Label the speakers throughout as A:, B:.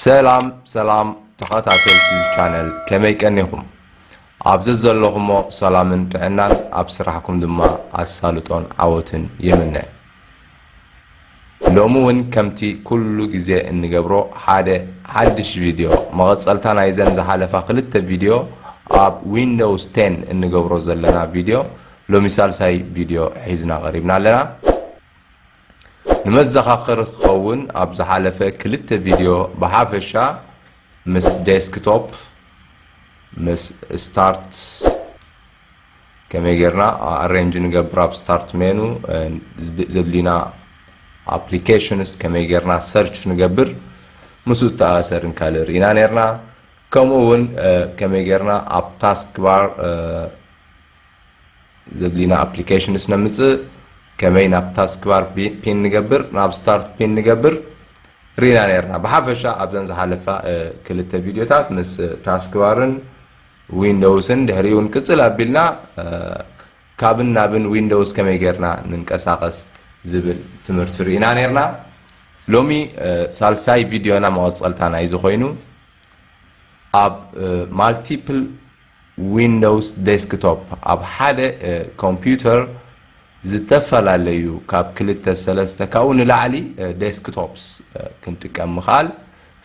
A: ሰላም ሰላም ተኸታተልቲ እዚ ቻነል ከመይ ቀኒኹም? ኣብ ዘዘለኹሞ ሰላምን ጥዕናን ኣብ ስራሕኩም ድማ ኣሳልጦን ዓወትን ይምነ። ሎሚ እውን ከምቲ ኩሉ ግዜ እንገብሮ ሓደ ሓድሽ ቪድዮ መቐጸልታ ናይዘን ዝሓለፋ ክልተ ቪድዮ ኣብ ዊንዶውስ ቴን እንገብሮ ዘለና ቪድዮ ሎሚ ሳልሳይ ቪድዮ ሒዝና ቀሪብና ኣለና። ንመዘኻኸሪ ክኸውን ኣብ ዝሓለፈ ክልተ ቪድዮ ብሓፈሻ ምስ ዴስክቶፕ ምስ ስታርት ከመይ ጌርና ኣሬንጅ ንገብር ኣብ ስታርት ሜኑ ዘድልዩና ኣፕሊኬሽንስ ከመይ ጌርና ሰርች ንገብር ምስኡ ተኣሰርን ካልእ ርኢና ነርና ከምኡ እውን ከመይ ጌርና ኣብ ታስክ ባር ዝብሊ ናብ ኣፕሊኬሽንስ ነምፅእ ከመይ ናብ ታስክባር ፒን ንገብር ናብ ስታርት ፒን ንገብር ሪና ነርና ብሓፈሻ ኣብዘን ዝሓለፋ ክልተ ቪድዮታት ምስ ታስክባርን ዊንዶውስን ድሕሪኡ እውን ቅፅል ኣቢልና ካብን ናብን ዊንዶውስ ከመይ ጌርና ንንቀሳቐስ ዝብል ትምህርቲ ርኢና ነርና ሎሚ ሳልሳይ ቪድዮና መቐፀልታ ናይዚ ኮይኑ ኣብ ማልቲፕል ዊንዶውስ ዴስክቶፕ ኣብ ሓደ ኮምፒዩተር ዝተፈላለዩ ካብ ክልተ ሰለስተ ካብኡ ንላዕሊ ዴስክቶፕስ ክንጥቀም ምኽኣል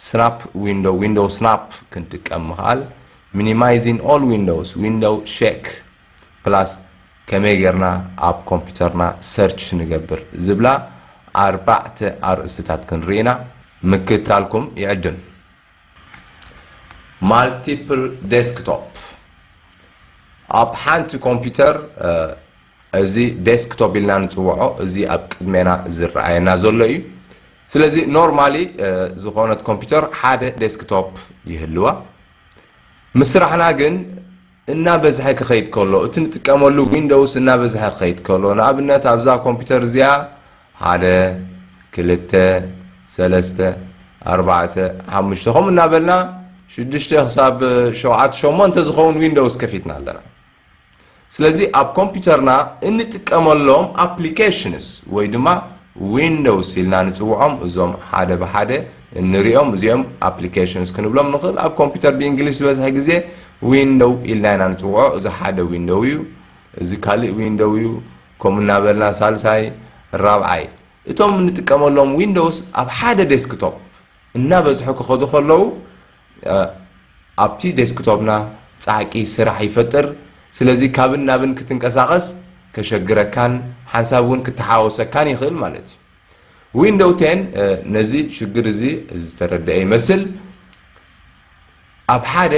A: ስናፕ ዊንዶው ዊንዶው ስናፕ ክንጥቀም ምኽኣል ሚኒማይዚን ኦል ዊንዶውስ ዊንዶው ሼክ ፕላስ ከመይ ጌርና ኣብ ኮምፒዩተርና ሰርች ንገብር ዝብላ ኣርባዕተ ኣርእስትታት ክንርኢ ኢና ምክትታልኩም ይዕድም ማልቲፕል ዴስክቶፕ ኣብ ሓንቲ ኮምፒውተር እዚ ዴስክቶፕ ኢልና ንፅውዖ እዚ ኣብ ቅድሜና ዝረኣየና ዘሎ እዩ ስለዚ ኖርማሊ ዝኾነት ኮምፒውተር ሓደ ዴስክቶፕ ይህልዋ ምስ ስራሕና ግን እናበዝሐ ክኸይድ ከሎ፣ እቲ ንጥቀመሉ ዊንዶውስ እናበዝሐ ክኸይድ ከሎ፣ ንኣብነት ኣብዛ ኮምፒተር እዚኣ ሓደ፣ ክልተ፣ ሰለስተ፣ ኣርባዕተ፣ ሓሙሽተ ከምኡ እናበልና ሽዱሽተ ክሳብ ሸውዓተ ሸሞንተ ዝኸውን ዊንዶውስ ከፊትና ኣለና። ስለዚ ኣብ ኮምፒተርና እንጥቀመሎም ኣፕሊኬሽንስ ወይ ድማ ዊንዶውስ ኢልና ንጽውዖም እዞም ሓደ ብሓደ እንሪኦም እዚኦም ኣፕሊኬሽንስ ክንብሎም ንኽእል ኣብ ኮምፒተር ብእንግሊሽ ዝበዝሐ ግዜ ዊንዶው ኢልና ኢና ንፅውዖ እዚ ሓደ ዊንዶው እዩ እዚ ካልእ ዊንዶው እዩ ከምኡ እናበልና ሳልሳይ ራብዓይ እቶም እንጥቀመሎም ዊንዶውስ ኣብ ሓደ ዴስክቶፕ እናበዝሑ ክኸዱ ከለዉ ኣብቲ ዴስክቶፕና ፃዕቂ ስራሕ ይፈጥር ስለዚ ካብን ናብን ክትንቀሳቐስ ከሸግረካን ሓንሳብ እውን ክተሓወሰካን ይኽእል ማለት እዩ ዊንዶው ቴን ነዚ ሽግር እዚ ዝተረደአ ይመስል ኣብ ሓደ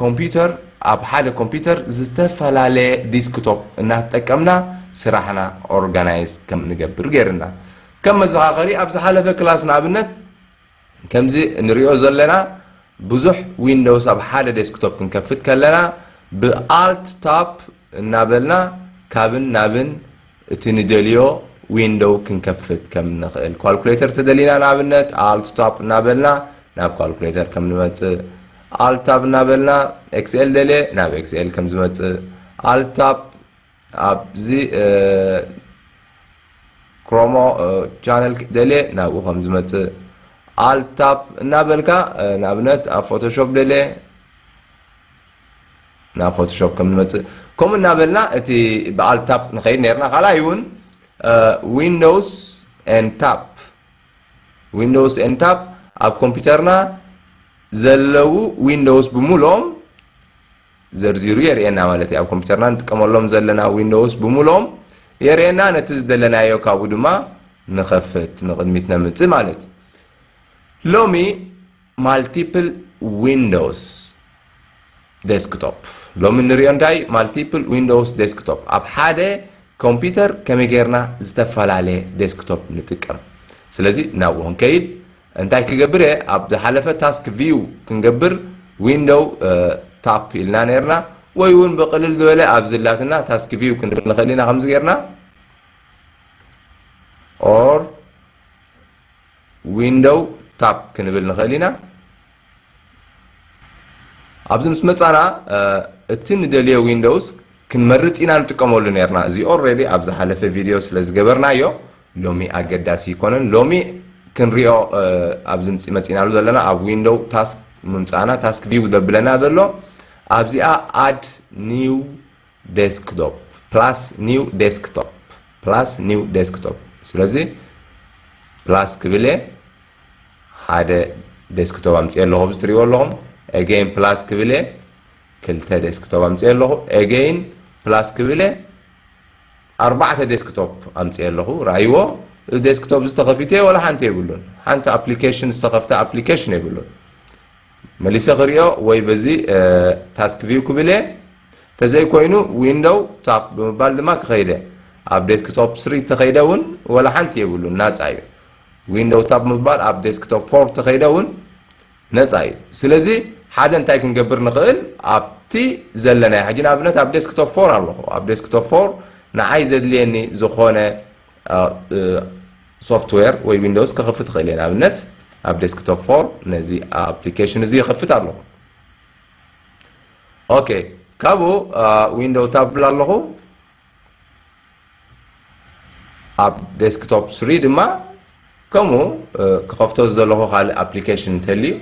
A: ኮምፒውተር ኣብ ሓደ ኮምፒውተር ዝተፈላለየ ዲስክቶፕ እናተጠቀምና ስራሕና ኦርጋናይዝ ከም ንገብር ገይርና ከም መዘኻኸሪ ኣብ ዝሓለፈ ክላስ ንኣብነት ከምዚ እንሪኦ ዘለና ብዙሕ ዊንዶውስ ኣብ ሓደ ዴስክቶፕ ክንከፍት ከለና ብ Alt Tab እናበልና ካብን ናብን እቲ ንደልዮ ዊንዶው ክንከፍት ከም እንኽእል ኳልኩሌተር ተደሊና ንኣብነት Alt Tab እናበልና ናብ ኳልኩሌተር ከም ንመጽእ Alt Tab እናበልና Excel ደልየ ናብ Excel ከም ዝመጽእ Alt Tab ኣብዚ ክሮሞ ቻነል ደልየ ናብኡ ከም ዝመጽእ ኣል ታፕ እናበልካ ንኣብነት ኣብ ፎቶሾፕ ደልየ ናብ ፎቶሾፕ ከም ንመጽእ ከምኡ እናበልና እቲ ብኣል ታፕ ንኸይድ ነርና ካልኣይ እውን ዊንዶውስ ን ታፕ ዊንዶውስ ን ታፕ ኣብ ኮምፒውተርና ዘለዉ ዊንዶውስ ብምልኦም ዘርዚሩ የርእየና ማለት እዩ። ኣብ ኮምፒተርና ንጥቀመሎም ዘለና ዊንዶውስ ብምሉኦም የርእየና፣ ነቲ ዝደለናዮ ካብኡ ድማ ንኸፍት፣ ንቕድሚት ነምጽእ ማለት እዩ። ሎሚ ማልቲፕል ዊንዶውስ ዴስክቶፕ ሎሚ እንሪኦ እንታይ ማልቲፕል ዊንዶውስ ዴስክቶፕ ኣብ ሓደ ኮምፒተር ከመይ ጌርና ዝተፈላለየ ዴስክቶፕ ንጥቀም ስለዚ ናብኡ ክንከይድ እንታይ ክገብር እየ ኣብ ዝሓለፈ ታስክ ቪው ክንገብር ዊንዶው ታፕ ኢልና ነርና ወይ እውን ብቅልል ዝበለ ኣብ ዝላትና ታስክ ቪው ክንብል ንኽእል ኢና ከምዚ ጌርና ኦር ዊንዶው ታፕ ክንብል ንኽእል ኢና ኣብዚ ምስ መጻና እቲ ንደልዮ ዊንዶውስ ክንመርጽ ኢና ንጥቀመሉ ነርና እዚ ኦልሬዲ ኣብ ዝሓለፈ ቪድዮ ስለ ዝገበርናዮ ሎሚ ኣገዳሲ ይኮነን ሎሚ ክንሪኦ ኣብዚ መጺናሉ ዘለና ኣብ ዊንዶው ታስክ ምምጻና ታስክ ቪው ዘብለና ዘሎ ኣብዚኣ ኣድ ኒው ዴስክቶፕ ፕላስ ኒው ዴስክቶፕ ፕላስ ኒው ዴስክቶፕ ስለዚ ፕላስ ክብል እየ ሓደ ዴስክቶፕ ኣምፅኤ ኣለኹ ኣብዚ ትሪእዎ ኣለኹም ኤገይን ፕላስ ክብል እየ ክልተ ዴስክቶፕ ኣምፅኤ ኣለኹ ኤገይን ፕላስ ክብል እየ ኣርባዕተ ዴስክቶፕ ኣምፅኤ ኣለኹ ርኣይዎ እዚ ዴስክቶፕ እዚ ተኸፊተ ወላ ሓንቲ የብሉን ሓንቲ ኣፕሊኬሽን ዝተኸፍተ ኣፕሊኬሽን የብሉን መሊሰ ክሪኦ ወይ በዚ ታስክ ቪው ክብል እየ ተዘይኮይኑ ዊንዶው ታፕ ብምባል ድማ ክኸይደ ኣብ ዴስክቶፕ ስሪ ተኸይደ እውን ወላ ሓንቲ የብሉን ናፃ እዩ ዊንዶው ታብ ምባል ኣብ ዴስክቶፕ ፎርም ተኸይደ እውን ነፃ እዩ። ስለዚ ሓደ እንታይ ክንገብር ንኽእል ኣብቲ ዘለናዮ ሕጂ ንኣብነት ኣብ ዴስክቶፕ ፎር ኣለኹ ኣብ ዴስክቶፕ ፎር ንዓይ ዘድልየኒ ዝኾነ ሶፍትዌር ወይ ዊንዶውስ ከኽፍት እኽእል እየ ንኣብነት ኣብ ዴስክቶፕ ፎር ነዚ ኣፕሊኬሽን እዚ ይኸፍት ኣለኹ ኦኬ ካብኡ ዊንዶው ታብ ብላ ኣለኹ ኣብ ዴስክቶፕ ስሪ ድማ ከምኡ ክኸፍቶ ዝደለኹ ካልእ ኣፕሊኬሽን እንተልዩ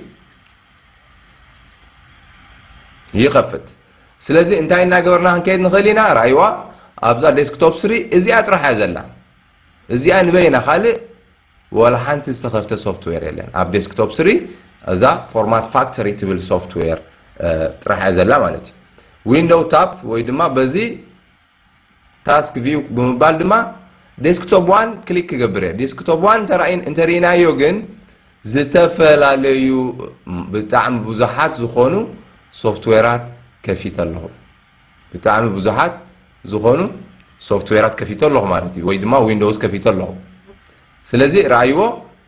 A: ይኸፍት ስለዚ እንታይ እናገበርና ክንከይድ ንኽእል ኢና ራይዋ ኣብዛ ዴስክቶፕ ስሪ እዚኣ ጥራሕ እያ ዘላ እዚኣ ንበይና ካልእ ዋላ ሓንቲ ዝተኸፍተ ሶፍትዌር የለን። ኣብ ዴስክቶፕ ስሪ እዛ ፎርማት ፋክተሪ ትብል ሶፍትዌር ጥራሕ እያ ዘላ ማለት እዩ። ዊንዶው ታፕ ወይ ድማ በዚ ታስክ ቪው ብምባል ድማ ዴስክቶፕ ዋን ክሊክ ክገብር እየ። ዴስክቶፕ ዋን እንተርኢናዮ ግን ዝተፈላለዩ ብጣዕሚ ብዙሓት ዝኾኑ ሶፍትዌራት ከፊተ ኣለኹ። ብጣዕሚ ብዙሓት ዝኾኑ ሶፍትዌራት ከፊተ ኣለኹ ማለት እዩ ወይ ድማ ዊንዶውስ ከፊተ ኣለኹ ስለዚ ረኣይዎ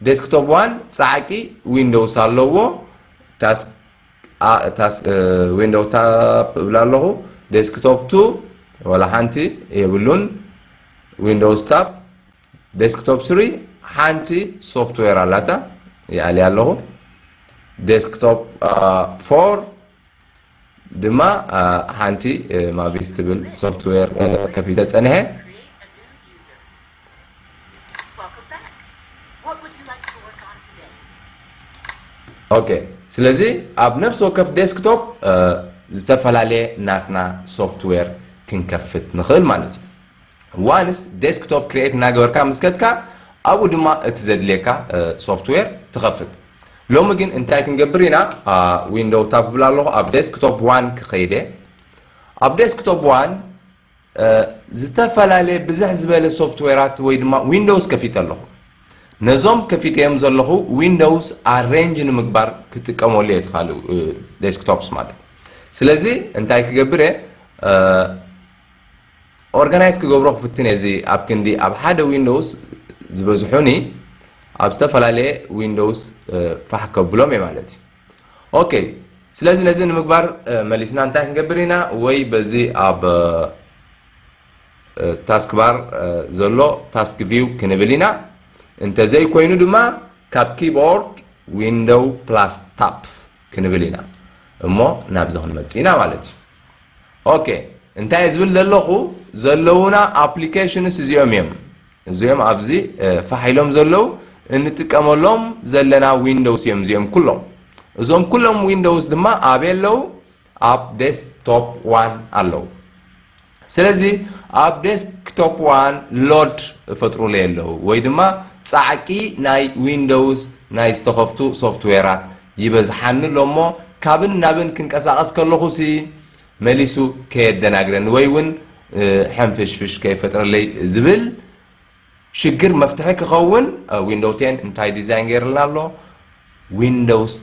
A: ዴስክቶፕ ዋን ፃዕቂ ዊንዶውስ ኣለዎ ዊንዶው ታፕ እብላ ኣለኹ ዴስክቶፕ ቱ ወላ ሓንቲ የብሉን ዊንዶውስ ታፕ ዴስክቶፕ ስሪ ሓንቲ ሶፍትዌር ኣላታ ይኣልያ ኣለኹ ዴስክቶፕ ፎር ድማ ሓንቲ ማቪስ ትብል ሶፍትዌር ከፊተ ጸኒሐ። ኦኬ ስለዚ ኣብ ነፍሲ ወከፍ ዴስክቶፕ ዝተፈላለየ ናትና ሶፍትዌር ክንከፍት ንኽእል ማለት እዩ ዋንስ ዴስክቶፕ ክርኤት እናገበርካ ምስ ከድካ ኣብኡ ድማ እቲ ዘድልየካ ሶፍትዌር ትኸፍት ሎሚ ግን እንታይ ክንገብር ኢና ዊንዶው ታብ ክብል ኣለኹ ኣብ ዴስክቶፕ ዋን ክኸይደ ኣብ ዴስክቶፕ ዋን ዝተፈላለየ ብዝሕ ዝበለ ሶፍትዌራት ወይ ድማ ዊንዶውስ ከፊተ ኣለኹ ነዞም ከፊተዮም ዘለኹ ዊንዶውስ ኣሬንጅ ንምግባር ክጥቀመሉ እየ ትኻሉ ዴስክቶፕስ ማለት ስለዚ እንታይ ክገብር እየ ኦርጋናይዝ ክገብሮ ክፍትን እየ እዚ ኣብ ክንዲ ኣብ ሓደ ዊንዶውስ ዝበዝሑኒ ኣብ ዝተፈላለየ ዊንዶውስ ፋሕ ከብሎም እየ ማለት እዩ ኦኬ ስለዚ ነዚ ንምግባር መሊስና እንታይ ክንገብር ኢና ወይ በዚ ኣብ ታስክ ባር ዘሎ ታስክ ቪው ክንብል ኢና እንተዘይኮይኑ ድማ ካብ ኪቦርድ ዊንዶው ፕላስ ታፕ ክንብል ኢና እሞ ናብዚ ክንመጽእ ኢና ማለት እዩ ኦኬ እንታይ ዝብል ዘለኹ ዘለውና ኣፕሊኬሽንስ እዚኦም እዮም እዚኦም ኣብዚ ፋሕ ኢሎም ዘለው እንጥቀመሎም ዘለና ዊንዶውስ እዮም እዚኦም ኩሎም እዞም ኩሎም ዊንዶውስ ድማ ኣበይ ኣለው ኣብ ዴስክቶፕ ዋን ኣለው ስለዚ ኣብ ዴስክቶፕ ዋን ሎድ እፈጥሩለይ ኣለዉ ወይ ድማ ጻዕቂ ናይ ዊንዶውስ ናይ ዝተኸፍቱ ሶፍትዌራት ይበዝሓኒ ኣሎ እሞ ካብን ናብን ክንቀሳቐስ ከለኹሲ መሊሱ ከየደናግረኒ ወይ እውን ሕንፍሽፍሽ ከይፈጥረለይ ዝብል ሽግር መፍትሒ ክኸውን ዊንዶው ቴን እንታይ ዲዛይን ገይርልና ኣሎ ዊንዶውስ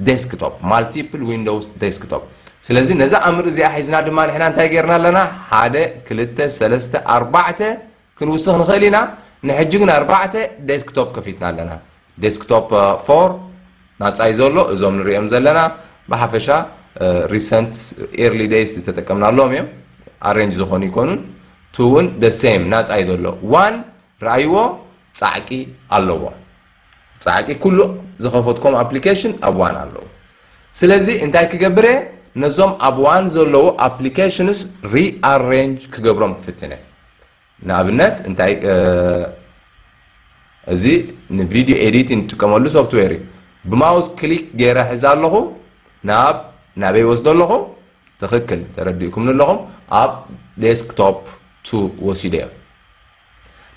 A: ዴስክቶፕ ማልቲፕል ዊንዶውስ ዴስክቶፕ ስለዚ ነዛ ኣምር እዚኣ ሒዝና ድማ ንሕና እንታይ ገይርና ኣለና ሓደ ክልተ ሰለስተ ኣርባዕተ ክንውስኽ ንኽእል ኢና ንሕጂ ግን ኣርባዕተ ዴስክቶፕ ከፊትና ኣለና ዴስክቶፕ ፎር ናጻ'ዩ ዘሎ፣ እዞም ንርእዮም ዘለና ብሓፈሻ ሪሰንት ኤርሊ ዴይስ ዝተጠቀምናሎም እዮም፣ ኣሬንጅ ዝኾኑ ኣይኮኑን። ቱ እውን the same ናጻ'ዩ ዘሎ፣ ዋን ርኣይዎ ጻዕቂ ኣለዎ፣ ጻዕቂ ኩሉ ዝኸፈትክዎም ኣፕሊኬሽን ኣብ ዋን ኣለዉ። ስለዚ እንታይ ክገብር እየ ነዞም ኣብ ዋን ዘለዉ ኣፕሊኬሽንስ ሪኣሬንጅ ክገብሮም ክፍትን እየ። ንኣብነት እንታይ እዚ ንቪድዮ ኤዲት ንጥቀመሉ ሶፍትዌር እዩ ብማውስ ክሊክ ገይረ ሕዚ ኣለኹ ናብ ናበይ ወስዶ ኣለኹ ትኽክል ተረዲእኩም ንለኹም ኣብ ዴስክቶፕ ቱ ወሲዶ እዮም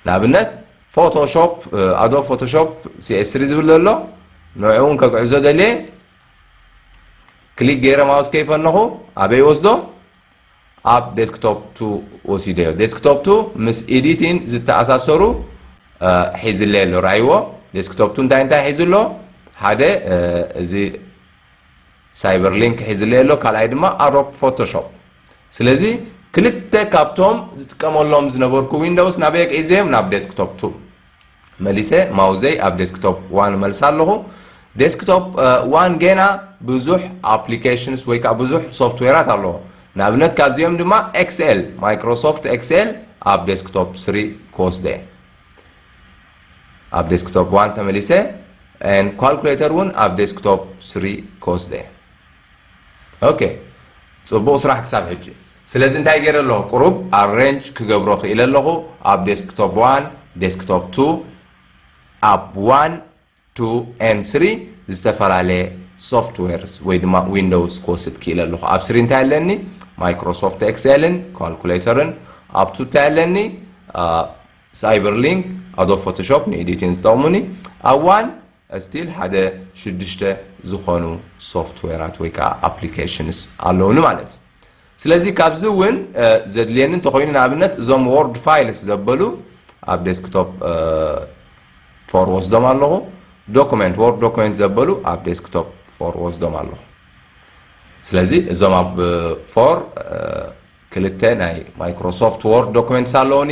A: ንኣብነት ፎቶሾፕ ኣዶ ፎቶሾፕ ሲኤስሪ ዝብል ዘሎ ንዕኡን ከግዕዞ ደልየ ክሊክ ገይረ ማውስ ከይፈነኹ ኣበይ ወስዶ ኣብ ዴስክቶፕ ቱ ወሲደዮ። ዴስክቶፕ ቱ ምስ ኤዲቲን ዝተኣሳሰሩ ሒዝለይ ኣሎ ርኣይዎ። ዴስክቶፕ ቱ እንታይ እንታይ ሒዙ ኣሎ? ሓደ እዚ ሳይበር ሊንክ ሒዝለይ ኣሎ፣ ካልኣይ ድማ ኣሮፕ ፎቶሾፕ። ስለዚ ክልተ ካብቶም ዝጥቀመሎም ዝነበርኩ ዊንዶውስ ናበይ ኣግዒዘዮም? ናብ ዴስክቶፕ ቱ። መሊሰ ማውዘይ ኣብ ዴስክቶፕ ዋን እመልሳ ኣለኹ። ዴስክቶፕ ዋን ጌና ብዙሕ ኣፕሊኬሽንስ ወይ ከዓ ብዙሕ ሶፍትዌራት ኣለዎ። ንኣብነት ካብዚኦም ድማ ኤክስኤል ማይክሮሶፍት ኤክስኤል ኣብ ዴስክቶፕ ስሪ ክወስዶ እየ። ኣብ ዴስክቶፕ ዋን ተመሊሰ ን ኳልኩሌተር እውን ኣብ ዴስክቶፕ ስሪ ክወስዶ እየ። ኦኬ ጽቡቕ ስራሕ ክሳብ ሕጂ። ስለዚ እንታይ ገይረ ኣለኹ ቁሩብ ኣሬንጅ ክገብሮ ክኢለ ኣለኹ ኣብ ዴስክቶፕ ዋን ዴስክቶፕ ቱ ኣብ ዋን ቱ ኤን ስሪ ዝተፈላለየ ሶፍትዌርስ ወይ ድማ ዊንዶውስ ክወስድ ክኢለ ኣለኹ ኣብ ስሪ እንታይ ኣለኒ ማይክሮሶፍት ኤክሴልን ካልኩሌተርን ኣብ ቱ እንታይ ኣለኒ ሳይበር ሊንክ ኣዶ ፎቶሾፕ ንኤዲቲን ዝጠቕሙኒ ኣብ ዋን ስቲል ሓደ ሽዱሽተ ዝኾኑ ሶፍትዌራት ወይ ከኣ ኣፕሊኬሽንስ ኣለዉኒ ማለት እዩ። ስለዚ ካብዚ እውን ዘድልየኒ እንተኾይኑ ንኣብነት እዞም ዎርድ ፋይልስ ዘበሉ ኣብ ዴስክቶፕ ፎር ወስዶም ኣለኹ። ዶኩመንት ዎርድ ዶኩመንት ዘበሉ ኣብ ዴስክቶፕ ፎር ወስዶም ኣለኹ። ስለዚ እዞም ኣብ ፎር ክልተ ናይ ማይክሮሶፍት ዎርድ ዶኩመንትስ ኣለዉኒ።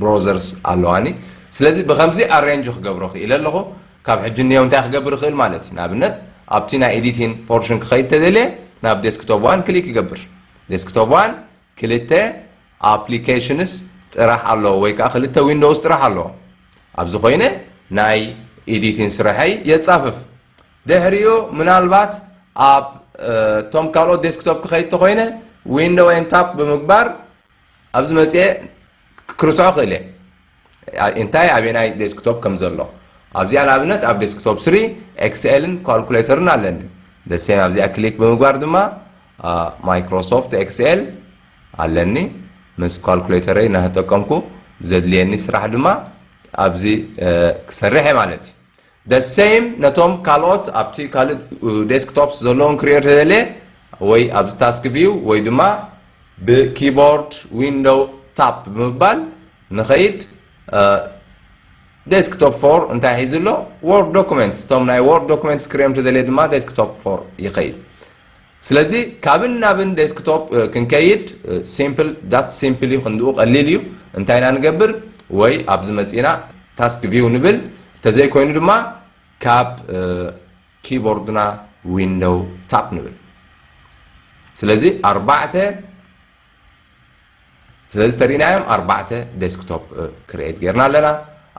A: ብሮዘርስ ኣለዋኒ ስለዚ ብከምዚ ኣሬንጅ ክገብሮ ክኢለ ኣለኩ ካብ ሕጂ ንየው እንታይ ክገብር ይክእል ማለት እዩ ንኣብነት ኣብቲ ናይ ኤዲቲን ፖርሽን ክከይድ ተደልየ ናብ ዴስክቶፕ ዋን ክሊክ ይገብር ዴስክቶፕ ዋን ክልተ ኣፕሊኬሽንስ ጥራሕ ኣለዎ ወይ ከዓ ክልተ ዊንዶውስ ጥራሕ ኣለዎ ኣብዚ ኮይነ ናይ ኤዲቲን ስረሐይ የፃፍፍ ድሕሪኡ ምናልባት ኣብ እቶም ካልኦት ዴስክቶፕ ክከይድ ተኮይነ ዊንዶው ን ታፕ ብምግባር ኣብዚ መጽየ ክርስዖ ክእል እየ እንታይ ኣበናይ ዴስክቶፕ ከም ዘሎ ኣብዚኣ ንኣብነት ኣብ ዴስክቶፕ ስሪ ኤክስኤልን ኳልኩሌተርን ኣለኒ ደሴም ኣብዚኣ ክሊክ ብምግባር ድማ ማይክሮሶፍት ኤክስኤል ኣለኒ ምስ ኳልኩሌተረይ እናተጠቀምኩ ዘድልየኒ ስራሕ ድማ ኣብዚ ክሰርሕ እየ ማለት እዩ The same ነቶም ካልኦት ኣብቲ ካልእ ዴስክቶፕስ ዘለዎም ክሪኦ ተደልየ ወይ ኣብዚ ታስክ ቪው ወይ ድማ ብኪቦርድ ዊንዶው ታፕ ብምባል ንኸይድ ዴስክቶፕ ፎር እንታይ ሒዙ ኣሎ ወርድ ዶኩመንትስ እቶም ናይ ወርድ ዶኩመንትስ ክሪኦም ተደልየ ድማ ዴስክቶፕ ፎር ይኸይድ ስለዚ ካብን ናብን ዴስክቶፕ ክንከይድ ሲምፕል ዳትስ ሲምፕል እዩ ክንድኡ ቀሊል እዩ እንታይ ኢና ንገብር ወይ ኣብዚ መጺና ታስክ ቪው ንብል ተዘይኮይኑ ድማ ካብ ኪቦርድና ዊንዶው ታፕ ንብል ስለዚ ኣርባዕተ ስለዚ ተሪእናዮም ኣርባዕተ ዴስክቶፕ ክርኤት ጌርና ኣለና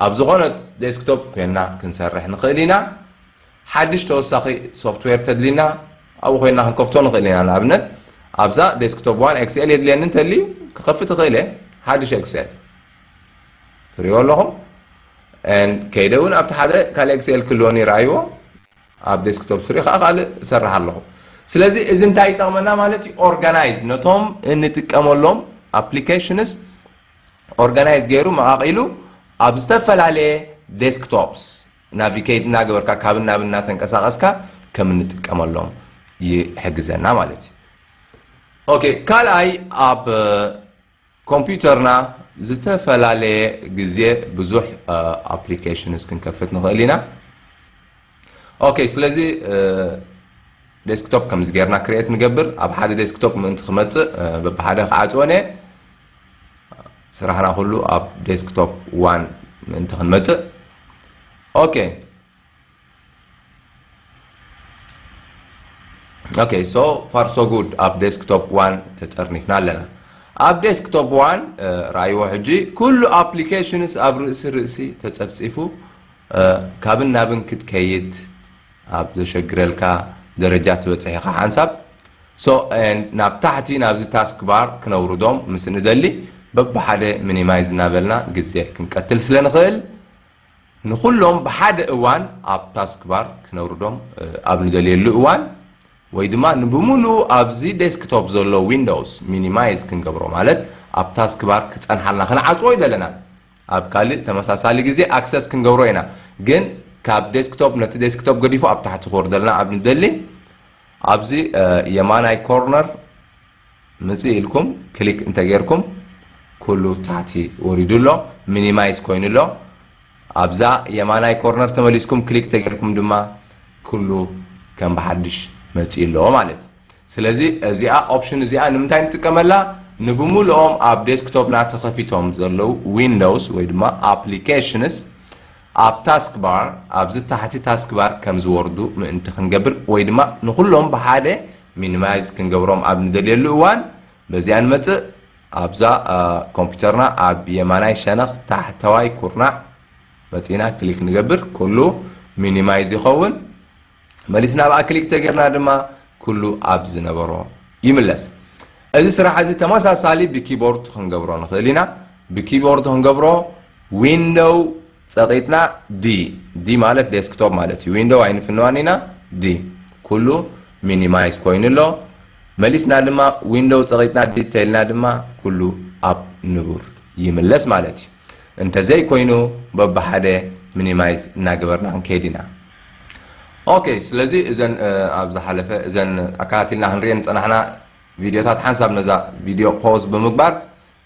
A: ኣብ ዝኾነ ዴስክቶፕ ኮይንና ክንሰርሕ ንኽእል ኢና ሓድሽ ተወሳኺ ሶፍትዌር ተድሊና ኣብኡ ኮይንና ክንከፍቶ ንኽእል ኢና ንኣብነት ኣብዛ ዴስክቶፕ ዋን ኤክስኤል የድልየኒ እንተልዩ ክኸፍት ይኽእል እየ ሓድሽ ኤክስኤል ትሪእዎ ኣለኹም ከይደ እውን ኣብቲ ሓደ ካልእ ኤክስኤል ክህልወኒ ይረኣይዎ ኣብ ዴስክቶፕ ፍሪ ከኣ ካልእ እሰርሕ ኣለኹ። ስለዚ እዚ እንታይ ይጠቕመና ማለት እዩ፣ ኦርጋናይዝ ነቶም እንጥቀመሎም ኣፕሊኬሽንስ ኦርጋናይዝ ገይሩ መቓቒሉ ኣብ ዝተፈላለየ ዴስክቶፕስ ናቪጌት እናገበርካ ካብን ናብን እናተንቀሳቐስካ ከም እንጥቀመሎም ይሕግዘና ማለት እዩ። ኦኬ ካልኣይ ኣብ ኮምፒዩተርና ዝተፈላለየ ግዜ ብዙሕ ኣፕሊኬሽንስ ክንከፍት ንኽእል ኢና። ኦኬ ስለዚ ዴስክቶፕ ከምዚ ጌርና ክሬት ንገብር። ኣብ ሓደ ዴስክቶፕ ምእንቲ ክመጽእ በብሓደ ክዓጽወን እየ። ስራሕና ኩሉ ኣብ ዴስክቶፕ ዋን ምእንቲ ክንመጽእ ኦኬ ኦኬ ሶ ፋር ሶ ጉድ ኣብ ዴስክቶፕ ዋን ተጠርኒፍና ኣለና ኣብ ዴስክቶፕ ዋን ረኣይዎ ሕጂ ኩሉ ኣፕሊኬሽንስ ኣብ ርእሲ ርእሲ ተፀፍፂፉ ካብን ናብን ክትከይድ ኣብ ዘሸግረልካ ደረጃ ትበፅሕ ኢኻ ሓንሳብ ሶ ናብ ታሕቲ ናብዚ ታስክ ባር ክነውርዶም ምስ ንደሊ በብሓደ ሚኒማይዝ እናበልና ግዜ ክንቀትል ስለ ንኽእል ንኹሎም ብሓደ እዋን ኣብ ታስክባር ክነውርዶም ኣብ ንደልየሉ እዋን ወይ ድማ ንብምሉኡ ኣብዚ ዴስክቶፕ ዘሎ ዊንዶውስ ሚኒማይዝ ክንገብሮ ማለት ኣብ ታስክባር ክፀንሓልና ክንዓፅዎ ኣይደለናን። ኣብ ካልእ ተመሳሳሊ ግዜ ኣክሰስ ክንገብሮ ኢና ግን ካብ ዴስክቶፕ ነቲ ዴስክቶፕ ገዲፉ ኣብ ታሕቲ ክወርደልና ኣብ ንደሊ ኣብዚ የማናይ ኮርነር ምጽእ ኢልኩም ክሊክ እንተ ጌርኩም ኩሉ ታሕቲ ወሪዱ ኣሎ ሚኒማይዝ ኮይኑ ኣሎ ኣብዛ የማናይ ኮርነር ተመሊስኩም ክሊክ ተጌርኩም ድማ ኩሉ ከም ብሓድሽ መጺ ኣሎ ማለት እዩ ስለዚ እዚኣ ኦፕሽን እዚኣ ንምንታይ ንጥቀመላ ንብምልኦም ኣብ ዴስክቶፕና ተኸፊቶም ዘለዉ ዊንዶውስ ወይ ድማ ኣፕሊኬሽንስ ኣብ ታስክ ባር ኣብዚ ታሕቲ ታስክ ባር ከም ዝወርዱ ምእንቲ ክንገብር ወይ ድማ ንኩሎም ብሓደ ሚኒማይዝ ክንገብሮም ኣብ ንደልየሉ እዋን በዚኣ ንመጽእ። ኣብዛ ኮምፒተርና ኣብ የማናይ ሸነኽ ታሕተዋይ ኩርናዕ መጺእና ክሊክ ንገብር ኩሉ ሚኒማይዝ ይኸውን። መሊስና ኣብኣ ክሊክ ተገርና ድማ ኩሉ ኣብ ዝነበሮ ይምለስ። እዚ ስራሕ እዚ ተመሳሳሊ ብኪቦርድ ክንገብሮ ንኽእል ኢና። ብኪቦርድ ክንገብሮ ዊንዶው ጸቂጥና D D ማለት ዴስክቶፕ ማለት እዩ ዊንዶው ኣይንፍንዋን ኢና D ኩሉ ሚኒማይዝ ኮይኑ ኣሎ መሊስና ድማ ዊንዶው ጸቂጥና D ተልና ድማ ኩሉ ኣብ ንቡር ይምለስ ማለት እዩ እንተዘይ ኮይኑ በብሓደ ሚኒማይዝ እናገበርና ክንከይድ ኢና ኦኬ ስለዚ እዘን ኣብ ዝሓለፈ እዘን ኣከታቲልና ክንሪኤን ዝፀናሕና ቪድዮታት ሓንሳብ ነዛ ቪድዮ ፖዝ ብምግባር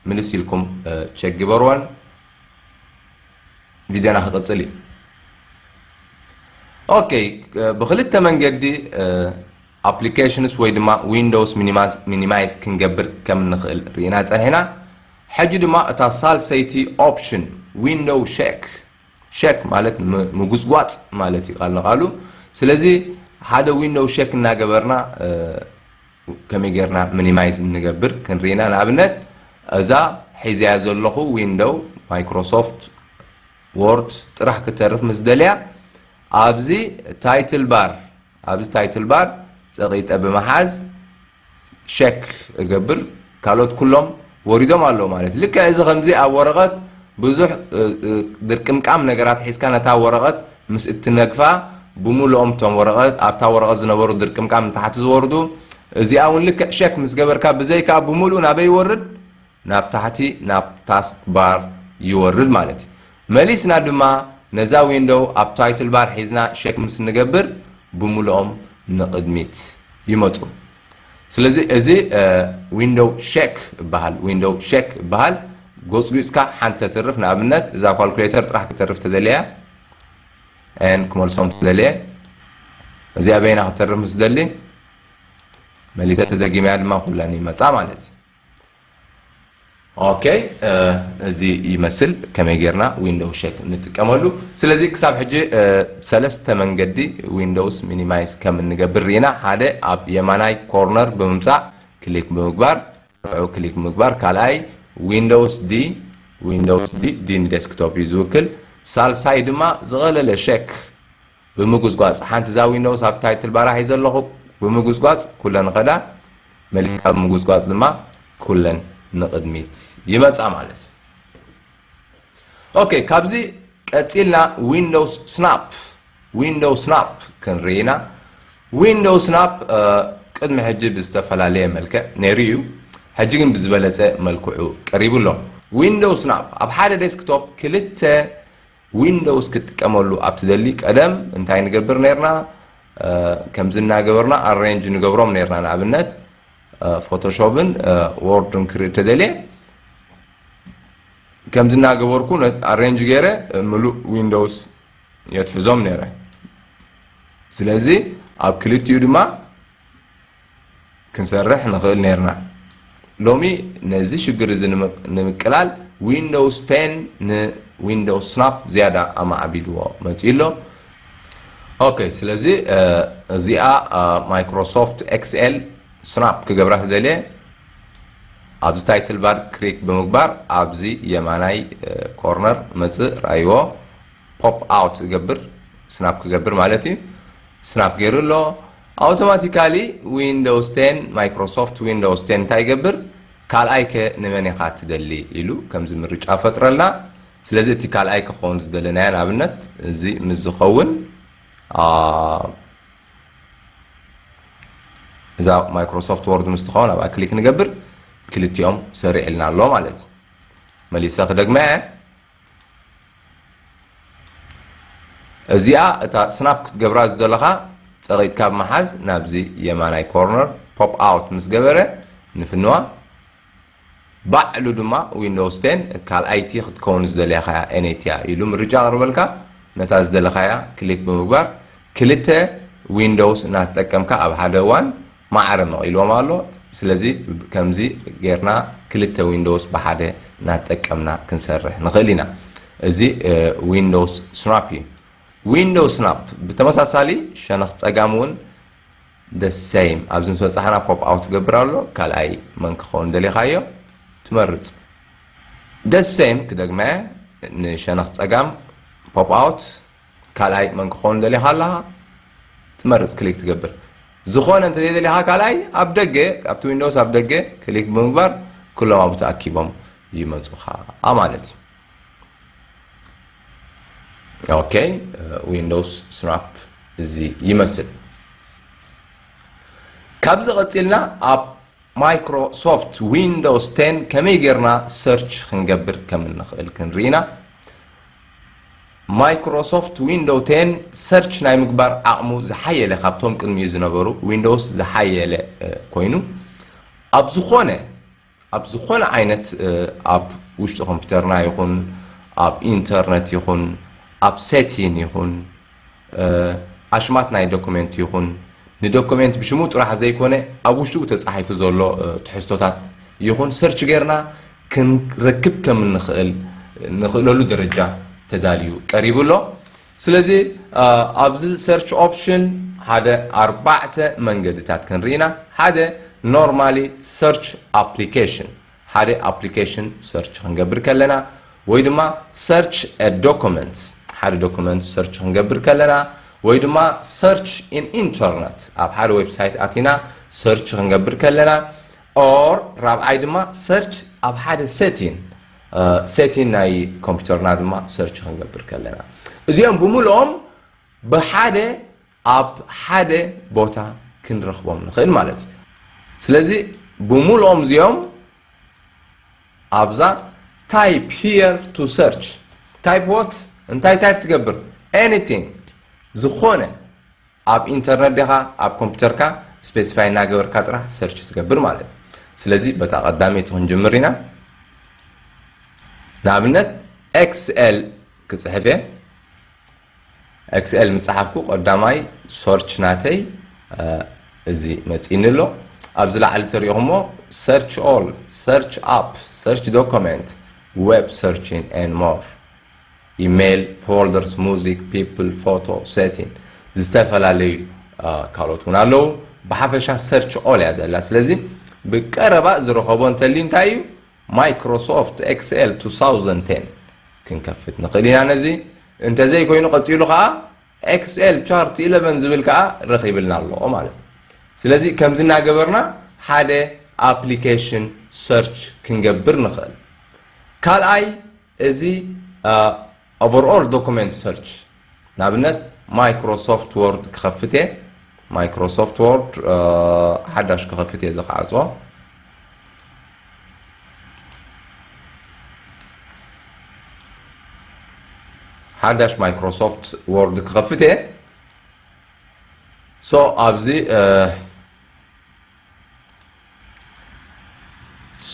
A: ምልስ ኢልኩም ቸክ ግበርዋን ቪድዮና ክቕፅል እዩ ኦኬ ብክልተ መንገዲ ኣፕሊኬሽንስ ወይ ድማ ዊንዶውስ ሚኒማይዝ ክንገብር ከም ንኽእል ርኢና ፀኒሕና ሕጂ ድማ እታ ሳልሰይቲ ኦፕሽን ዊንዶው ሸክ ሸክ ማለት ምጉስጓፅ ማለት እዩ ቃል ንቃሉ ስለዚ ሓደ ዊንዶው ሸክ እናገበርና ከመይ ጌርና ምኒማይዝ ንገብር ክንሪ ኢና ንኣብነት እዛ ሒዘያ ዘለኹ ዊንዶው ማይክሮሶፍት ዎርድ ጥራሕ ክተርፍ ምስ ደልያ ኣብዚ ታይትል ባር ኣብዚ ታይትል ባር ጸቂጠ ብምሓዝ ሸክ እገብር ካልኦት ኩሎም ወሪዶም ኣለዉ ማለት እዩ። ልክዕ እዚ ከምዚ ኣብ ወረቐት ብዙሕ ድርቅምቃም ነገራት ሒዝካ ነታ ወረቐት ምስ እትነግፋ ብሙሉኦም እቶም ወረቐት ኣብታ ወረቐት ዝነበሩ ድርቅምቃም ንታሕቲ ዝወርዱ እዚኣ እውን ልክዕ ሸክ ምስ ገበርካ ብዘይካ ብሙሉኡ ናበይ ይወርድ ናብ ታሕቲ ናብ ታስክ ባር ይወርድ ማለት እዩ። መሊስና ድማ ነዛ ዊንዶው ኣብ ታይትል ባር ሒዝና ሸክ ምስ እንገብር ብሙሉኦም ንቕድሚት ይመፁ። ስለዚ እዚ ዊንዶው ሸክ ይበሃል ዊንዶው ሸክ ይበሃል ጎፅጒፅካ ሓንቲ ተትርፍ ንኣብነት እዛ ኳልኩሌተር ጥራሕ ክተርፍ ተደልያ ን ክመልሶም ትደልየ እዚኣ በይና ክተርፍ ምስ ደሊ መሊሰ ተደጊመያ ድማ ኩለን ይመፃ ማለት እዩ ኦኬ እዚ ይመስል ከመይ ጌርና ዊንዶው ሸክ ንጥቀመሉ ስለዚ ክሳብ ሕጂ ሰለስተ መንገዲ ዊንዶውስ ሚኒማይዝ ከም እንገብር ርኢና ሓደ ኣብ የማናይ ኮርነር ብምምፃእ ክሊክ ብምግባር ንዑ ክሊክ ምግባር ካልኣይ ዊንዶውስ ዲ ዊንዶውስ ዲ ዲ ንዴስክቶፕ እዩ ዝውክል ሳልሳይ ድማ ዝቐለለ ሸክ ብምጉጽጓጽ ሓንቲ እዛ ዊንዶውስ ኣብ ታይትል ባራ ሒዘ ኣለኹ ብምጉጽጓጽ ኩለን ኸዳ መሊስካ ብምጉጽጓጽ ድማ ኩለን ንቕድሚት ይመጻ ማለት እዩ ኦኬ ካብዚ ቀጺልና ዊንዶውስ ስናፕ ዊንዶውስ ስናፕ ክንርኢ ኢና ዊንዶውስ ስናፕ ቅድሚ ሕጂ ብዝተፈላለየ መልክዕ ነይሩ እዩ ሕጂ ግን ብዝበለጸ መልክዑ ቀሪቡ ኣሎ ዊንዶውስ ስናፕ ኣብ ሓደ ዴስክቶፕ ክልተ ዊንዶውስ ክትጥቀመሉ ኣብ ትደሊ ቀደም እንታይ ንገብር ነርና ከምዚ እናገበርና ኣሬንጅ ንገብሮም ነርና ንኣብነት ፎቶሾፕን ዎርድን ክርኢ ተደልየ ከምዚ እናገበርኩ ኣሬንጅ ገይረ ምሉእ ዊንዶውስ የትሕዞም ነይረ ስለዚ ኣብ ክልቲኡ ድማ ክንሰርሕ ንኽእል ኔርና። ሎሚ ነዚ ሽግር እዚ ንምቅላል ዊንዶውስ ቴን ንዊንዶውስ ስናፕ ዝያዳ ኣማዕቢልዎ መፂኡ ኣሎ። ኦኬ ስለዚ እዚኣ ማይክሮሶፍት ኤክስኤል ስናፕ ክገብራ ተደልየ ኣብዚ ታይትል ባር ክሪክ ብምግባር ኣብዚ የማናይ ኮርነር መፅእ ራይዎ ፖፕ ኣውት እገብር ስናፕ ክገብር ማለት እዩ ስናፕ ገይሩ ኣሎ ኣውቶማቲካሊ ዊንዶውስ ቴን ማይክሮሶፍት ዊንዶውስ ቴን እንታይ ይገብር ካልኣይ ከ ንመን ኢኻ ትደሊ ኢሉ ከምዚ ምርጫ ይፈጥረልና ስለዚ እቲ ካልኣይ ክኸውን ዝደለናዮ ንኣብነት እዚ ምስ ዝኸውን እዛ ማይክሮሶፍት ወርድ ምስ ትኸውን ኣብኣ ክሊክ ንገብር ክልቲኦም ሰሪዕልና ኣሎ ማለት እዩ መሊሰ ክደግመ እየ እዚኣ እታ ስናፕ ክትገብራ ዝደለኻ ፀቒጥካ ካብ መሓዝ ናብዚ የማናይ ኮርነር ፖፕ ኣውት ምስ ገበረ ንፍንዋ ባዕሉ ድማ ዊንዶውስ 10 ካልኣይቲ ክትከውን ዝደለኻያ ኤነይቲ እያ ኢሉ ምርጫ ኣቕርበልካ ነታ ዝደለኻያ ክሊክ ብምግባር ክልተ ዊንዶውስ እናተጠቀምካ ኣብ ሓደ እዋን ማዕረ መቒልዎም ኣሎ ስለዚ ከምዚ ጌርና ክልተ ዊንዶውስ ብሓደ ናተጠቀምና ክንሰርሕ ንኽእል ኢና እዚ ዊንዶውስ ስናፕ እዩ ዊንዶውስ ስናፕ ብተመሳሳሊ ሸነኽ ጸጋም እውን the same ኣብዚ ምስ በጻሕና ፖፕ ኣውት ትገብር ኣሎ ካልኣይ መን ክኸውን ደሊኻዮ ትመርጽ the same ክደግመ ንሸነኽ ጸጋም ፖፕ ኣውት ካልኣይ መን ክኾን ደሊኻ ኣለኻ ትመርጽ ክሊክ ትገብር ዝኾነ እንተ ዘይደሊኻ ካልኣይ ኣብ ደገ ኣብቲ ዊንዶውስ ኣብ ደገ ክሊክ ብምግባር ኩሎም ኣብኡ ተኣኪቦም ይመፁኻ ማለት እዩ ኦኬ ዊንዶውስ ስናፕ እዚ ይመስል ካብዚ ቀፂልና ኣብ ማይክሮሶፍት ዊንዶውስ 10 ከመይ ጌርና ሰርች ክንገብር ከም እንኽእል ክንርኢና ማይክሮሶፍት ዊንዶው ቴን ሰርች ናይ ምግባር ዓቕሙ ዝሓየለ ካብቶም ቅድሚኡ ዝነበሩ ዊንዶውስ ዝሓየለ ኮይኑ ኣብ ዝኾነ ኣብ ዝኾነ ዓይነት ኣብ ውሽጢ ኮምፒውተርና ይኹን ኣብ ኢንተርነት ይኹን ኣብ ሴቲን ይኹን ኣሽማት ናይ ዶኩሜንት ይኹን ንዶኩሜንት ብሽሙ ጥራሕ ዘይኮነ ኣብ ውሽጡ ተፃሒፉ ዘሎ ትሕዝቶታት ይኹን ሰርች ጌርና ክንረክብ ከም እንኽእል ንኽእለሉ ደረጃ ተዳልዩ ቀሪቡ ኣሎ። ስለዚ ኣብዚ ሰርች ኦፕሽን ሓደ ኣርባዕተ መንገድታት ክንርኢ ኢና። ሓደ ኖርማሊ ሰርች ኣፕሊኬሽን ሓደ ኣፕሊኬሽን ሰርች ክንገብር ከለና ወይ ድማ ሰርች አ ዶኮመንት ሓደ ዶኮመንት ሰርች ክንገብር ከለና ወይ ድማ ሰርች ኢን ኢንተርነት ኣብ ሓደ ዌብሳይት ኣቲና ሰርች ክንገብር ከለና ኦር ራብዓይ ድማ ሰርች ኣብ ሓደ ሴቲን ሴቲን ናይ ኮምፒውተርና ድማ ሰርች ክንገብር ከለና እዚኦም ብምልኦም ብሓደ ኣብ ሓደ ቦታ ክንረኽቦም ንኽእል ማለት እዩ ስለዚ ብሙሉኦም እዚኦም ኣብዛ ታይፕ ሂር ቱ ሰርች ታይፕ ወት እንታይ ታይፕ ትገብር ኤኒቲንግ ዝኾነ ኣብ ኢንተርነት ዲኻ ኣብ ኮምፒውተርካ ስፔሲፋይ እናገበርካ ጥራሕ ሰርች ትገብር ማለት እዩ ስለዚ በታ ቀዳመይቲ ክንጅምር ኢና ንኣብነት ኤክስኤል ክፅሕፍ እየ Xl ምጸሓፍኩ ቀዳማይ ሶርች ናተይ እዚ መጺኒ ኣሎ ኣብዚ ላዕሊ ተሪኹሞ Search All Search App Search Document Web Searching and More ኢሜይል ፎልደርስ ሙዚክ ፒፕል ፎቶ ሴቲን ዝተፈላለዩ ካልኦት እውን ኣለዉ ብሓፈሻ ሰርች ኦል እያ ዘላ ስለዚ ብቀረባ ዝረኸቦ እንተልዩ እንታይ እዩ Microsoft Excel 2010 ክንከፍት ንኽእል ኢና ነዚ እንተዘይ ኮይኑ ቀጺሉ ከኣ Excel Chart 11 ዝብል ከኣ ረኺብልና ኣሎ ማለት እዩ ስለዚ ከምዚ እናገበርና ሓደ ኣፕሊኬሽን ሰርች ክንገብር ንኽእል ካልኣይ እዚ ኦቨርኦል ዶኩመንት ሰርች ንኣብነት ማይክሮሶፍት ዎርድ ክኸፍት እየ ማይክሮሶፍት ዎርድ ሓዳሽ ክኸፍት እየ ዝኸዓፆ ሓዳሽ ማይክሮሶፍት ወርድ ክኸፍት እየ ሶ ኣብዚ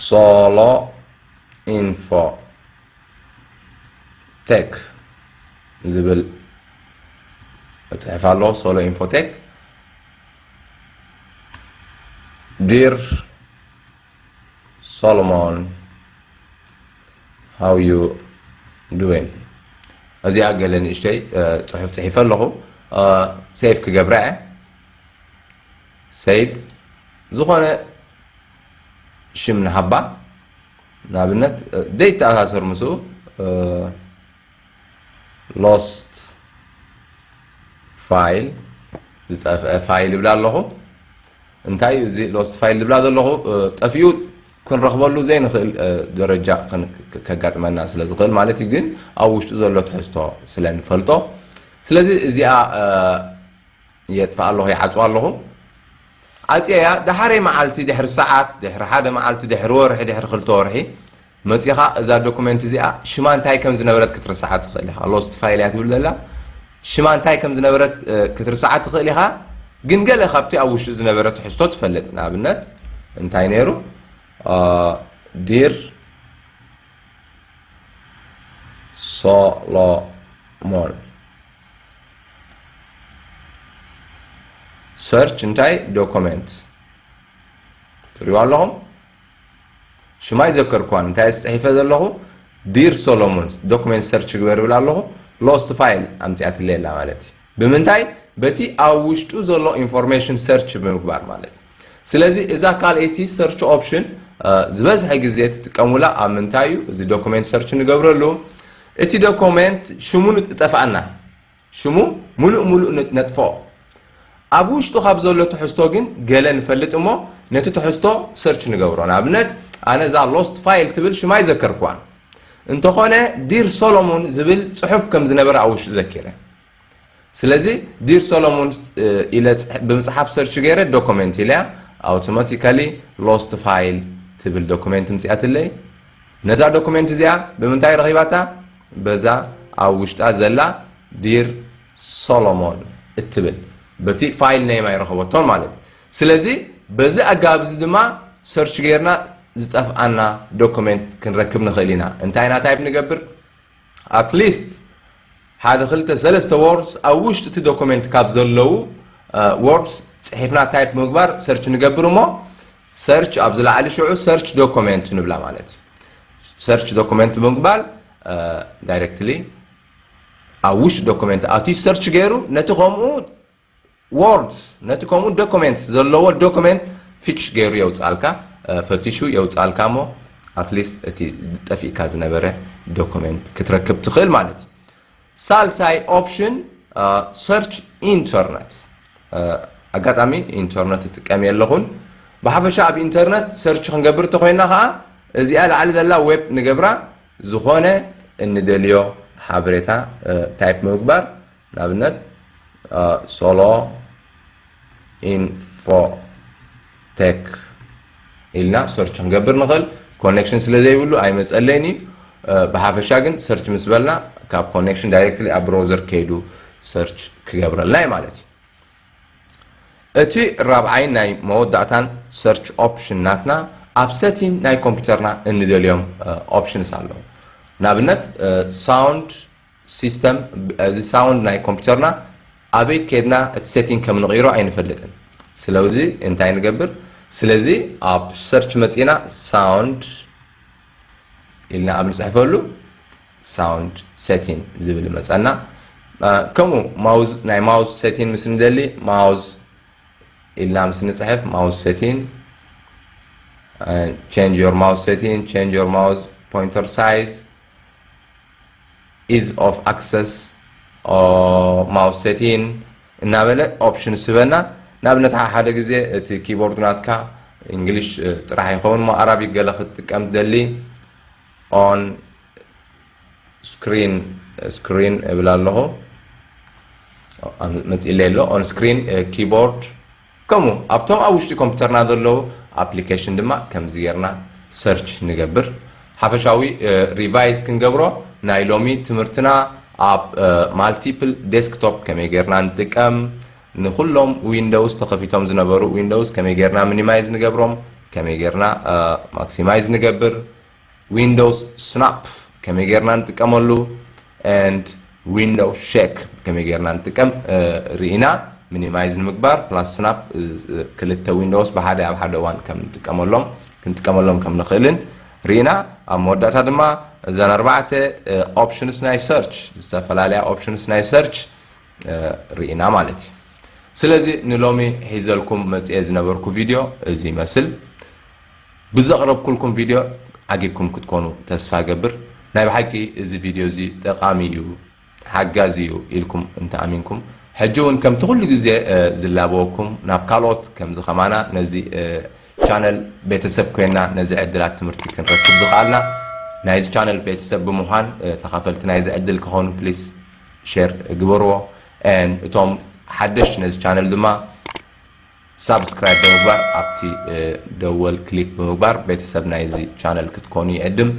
A: solo info tech ዝብል መፅሕፍ ኣሎ ሶሎ ኢንፎቴክ ዲር ሶሎሞን ሃው ዩ ዱዌን እዚኣ ገለ ንእሽተይ ፅሑፍ ፅሒፈ ኣለኹ ሴፍ ክገብራ እየ ሰይድ ዝኾነ ሽም ንሃባ ንኣብነት ዘይተኣሳሰር ምስኡ ሎስት ፋይል ዝጠፍአ ፋይል ይብላ ኣለኹ እንታይ እዩ እዚ ሎስት ፋይል ዝብላ ዘለኹ ጠፊኡ ክንረኽበሉ ዘይንኽእል ደረጃ ከጋጥመና ስለ ዝኽእል ማለት እዩ ግን ኣብ ውሽጡ ዘሎ ትሕዝቶ ስለ ንፈልጦ ስለዚ እዚኣ የጥፍኣ ኣለኹ ይዓጽዋ ኣለኹ ኣጽየያ ደሓረይ መዓልቲ ድሕሪ ሰዓት ድሕሪ ሓደ መዓልቲ ድሕሪ ወርሒ ድሕሪ ክልተ ወርሒ መጺኻ እዛ ዶኩመንት እዚኣ ሽማ እንታይ ከም ዝነበረት ክትርስዓ ትኽእል ኢኻ ሎስት ፋይል እያ ትብል ዘላ ሽማ እንታይ ከም ዝነበረት ክትርስዓ ትኽእል ኢኻ ግን ገለ ካብቲ ኣብ ውሽጡ ዝነበረ ትሕዝቶ ትፈልጥ ንኣብነት እንታይ ነይሩ ዲር ሶሎሞን ሰርች እንታይ ዶኮመንት ትሪእዋ ኣለኹም ሽማ ይዘከርኳን እንታይ ዝፅሒፈ ዘለኹ ዲር ሶሎሞንስ ዶክመንት ሰርች ግበር ይብል ኣለኹ ሎስት ፋይል ኣምፅኣትለይ ኣላ ማለት እዩ ብምንታይ በቲ ኣብ ውሽጡ ዘሎ ኢንፎርሜሽን ሰርች ብምግባር ማለት እዩ ስለዚ እዛ ካልኣይቲ ሰርች ኦፕሽን ዝበዝሐ ግዜ ትጥቀሙላ ኣብ ምንታይ እዩ እዚ ዶኩሜንት ሰርች ንገብረሉ እቲ ዶኩሜንት ሽሙ ንጠፋኣና ሽሙ ሙሉእ ሙሉእ ነጥፎ ኣብ ውሽጡ ካብ ዘሎ ትሕዝቶ ግን ገለ ንፈልጥ እሞ ነቲ ትሕዝቶ ሰርች ንገብሮ ንኣብነት ኣነ እዛ ሎስት ፋይል ትብል ሽማ ይዘከርክዋን እንተኾነ ዲር ሶሎሞን ዝብል ፅሑፍ ከም ዝነበረ ኣብ ውሽጡ ዘኪረ ስለዚ ዲር ሰሎሙን ኢለ ብምፅሓፍ ሰርች ገይረ ዶኮሜንት ኢለያ ኣውቶማቲካሊ ሎስት ፋይል ትብል ዶኩሜንት ምፅያትለይ ነዛ ዶኩሜንት እዚኣ ብምንታይ ረኺባታ በዛ ኣብ ውሽጣ ዘላ ዲር ሶሎሞን እትብል በቲ ፋይል ነይም ኣይረኸበቶን ማለት እዩ ስለዚ በዚ ኣገባብ እዚ ድማ ሰርች ገይርና ዝጠፍኣና ዶኩሜንት ክንረክብ ንኽእል ኢና እንታይ ኢና ታይፕ ንገብር ኣት ሊስት ሓደ ክልተ ሰለስተ ዎርድስ ኣብ ውሽጢ እቲ ዶኮሜንት ካብ ዘለዉ ዎርድስ ፅሒፍና ታይፕ ምግባር ሰርች ንገብር እሞ ሰርች ኣብ ዝለዓሊ ሽዑ ሰርች ዶኮሜንት ንብላ ማለት እዩ ሰርች ዶኩመንት ብምግባል ዳይሬክትሊ ኣብ ውሽጢ ዶኩመንት ኣትዩ ሰርች ገይሩ ነቲ ከምኡ ዎርድስ ነቲ ከምኡ ዶኮሜንትስ ዘለዎ ዶኮሜንት ፊክሽ ገይሩ የውጽኣልካ ፈቲሹ የውጽኣልካ እሞ ኣትሊስት እቲ ጠፊእካ ዝነበረ ዶኮሜንት ክትረክብ ትኽእል ማለት እዩ ሳልሳይ ኦፕሽን ሰርች ኢንተርነት ኣጋጣሚ ኢንተርነት እጥቀም የለኹን ብሓፈሻ ኣብ ኢንተርነት ሰርች ክንገብር ተኮይና ከዓ እዚኣ ላዕሊ ዘላ ዌብ ንገብራ ዝኾነ እንደልዮ ሓበሬታ ታይፕ ምግባር ንኣብነት ሶሎ ኢንፎቴክ ኢልና ሰርች ክንገብር ንኽእል ኮኔክሽን ስለ ዘይብሉ ኣይመፀለይን እዩ ብሓፈሻ ግን ሰርች ምስ በልና ካብ ኮኔክሽን ዳይሬክትሊ ኣብ ብሮዘር ከይዱ ሰርች ክገብረልና እዩ ማለት እዩ እቲ ራብዓይን ናይ መወዳእታን ሰርች ኦፕሽን ናትና ኣብ ሰቲን ናይ ኮምፒውተርና እንደልዮም ኦፕሽንስ ኣለዉ ንኣብነት ሳውንድ System እዚ ሳውንድ ናይ ኮምፒተርና ኣበይ ከድና እቲ ሴቲንግ ከም ንቕይሮ ኣይንፈልጥን ስለዚ እንታይ ንገብር ስለዚ ኣብ ሰርች መጺና ሳውንድ ኢልና ኣብ ንጽሕፈሉ ሳውንድ ሴቲን ዝብል መጸና ከምኡ ማውዝ ናይ ማውዝ ሴቲን ምስ ንደሊ ማውዝ ኢልና ምስ ንጽሕፍ ማውዝ ሴቲን ቼንጅ ዮር ማውዝ ሴቲን ቼንጅ ዮር ማውዝ ፖይንተር ሳይዝ ኢዝ ኦፍ ኣክሰስ ማውስ ሴቲን እናበለ ኦፕሽንስ ህበና ንኣብነት ሓሓደ ግዜ እቲ ኪቦርድ ናትካ እንግሊሽ ጥራሕ ይኸውን እሞ ኣራቢክ ገለ ክትጥቀም ትደሊ ኦን ስክሪን ስክሪን እብል ኣለኹ መፅኢለይ ኣሎ ኦን ስክሪን ኪቦርድ ከምኡ ኣብቶም ኣብ ውሽጢ ኮምፒተርና ዘለዉ ኣፕሊከሽን ድማ ከምዚ ጌርና ሰርች ንገብር ሓፈሻዊ ሪቫይዝ ክንገብሮ ናይ ሎሚ ትምህርትና ኣብ ማልቲፕል ዴስክቶፕ ከመይ ጌርና ንጥቀም ንኩሎም ዊንዶውስ ተኸፊቶም ዝነበሩ ዊንዶውስ ከመይ ጌርና ሚኒማይዝ ንገብሮም ከመይ ጌርና ማክሲማይዝ ንገብር ዊንዶውስ ስናፕ ከመይ ጌርና ንጥቀመሉ and ዊንዶው ሸክ ከመይ ጌርና ንጥቀም ርኢና ሚኒማይዝ ንምግባር ፕላስ ስናፕ ክልተ ዊንዶውስ ብሓደ ኣብ ሓደ እዋን ከም ንጥቀመሎም ክንጥቀመሎም ከም ንኽእልን ርኢና ኣብ መወዳእታ ድማ እዘን ኣርባዕተ ኦፕሽንስ ናይ ሰርች ዝተፈላለያ ኦፕሽንስ ናይ ሰርች ርኢና ማለት እዩ ስለዚ ንሎሚ ሒዘልኩም መፅኤ ዝነበርኩ ቪድዮ እዚ ይመስል ብዘቕረብኩልኩም ቪድዮ ዓጊብኩም ክትኮኑ ተስፋ እገብር። ናይ ብሓቂ እዚ ቪድዮ እዚ ጠቓሚ እዩ፣ ሓጋዚ እዩ ኢልኩም እንተ ኣሚንኩም፣ ሕጂ ውን ከምቲ ኩሉ ግዜ ዝላበወኩም ናብ ካልኦት ከምዚ ከማና ነዚ ቻነል ቤተሰብ ኮይና ነዚ ዕድላት ትምህርቲ ክንረክብ ዝኸኣልና ናይዚ ቻነል ቤተሰብ ብምዃን ተኻፈልቲ ናይዚ ዕድል ክኾኑ ፕሊስ ሼር ግበርዎ and እቶም ሓደሽቲ ነዚ ቻነል ድማ ሳብስክራይብ ብምግባር ኣብቲ ደወል ክሊክ ብምግባር ቤተሰብ ናይዚ ቻነል ክትኮኑ ይዕድም።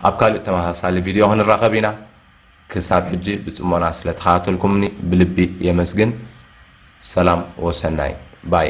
A: ኣብ ካልእ ተመሳሳሊ ቪድዮ ክንራኸብ ኢና። ክሳብ ሕጂ ብጽሞና ስለ ተኸታተልኩምኒ ብልቢ የመስግን። ሰላም ወሰናይ ባይ።